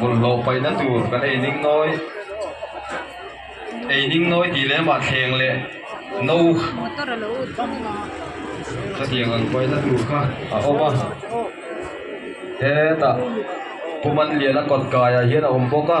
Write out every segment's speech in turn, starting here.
Bawlhhlawh paina tur kan ei ning nawi. Ei ning nawi tih leh mah thleng leh no chutiang ang paina tur kha a awm a. Hetah Pumanliana kawt kaiah hian a awm bawk a.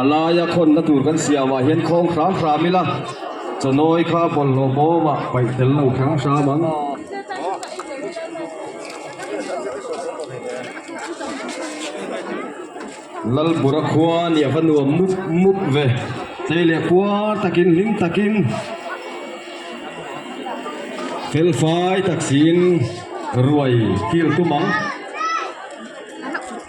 A laia khawnna tur kan siamah hian khawng hram hram ila chawnawi kha bawlhhlawh bawma paih tel lo hram hram ang. Lalbura khua ni a va nuam mup mup ve. Tlei leh puar takin hlim takin fel fai tak siin ruai kil tum ang.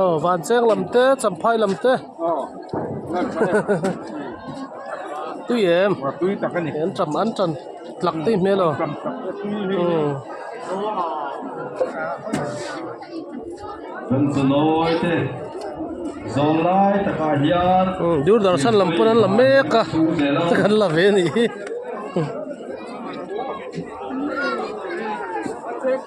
aw vânchêng lam te champhai lam te aw tui em tui tak a ni an ṭam an ṭan tlak daih hmêl aw ṭam tlak te tui hi aw bunchnuawi te zawng lai takah hian dûrdarshan lam pawh an la mêk a heta kan la ve a nih hi.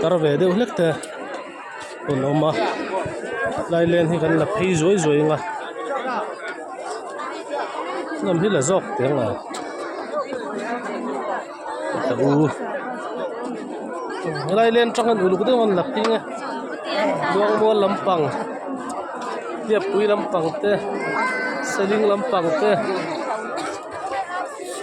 Kar ve deuh hlek te an awm a tlai len hi kan la phei zuai zuai ang a hnim hi la zawk teh ang a lai len atang hian uluk deuh an la phei nge Luangmual lampang Hliapui lampang te Saling lampang te.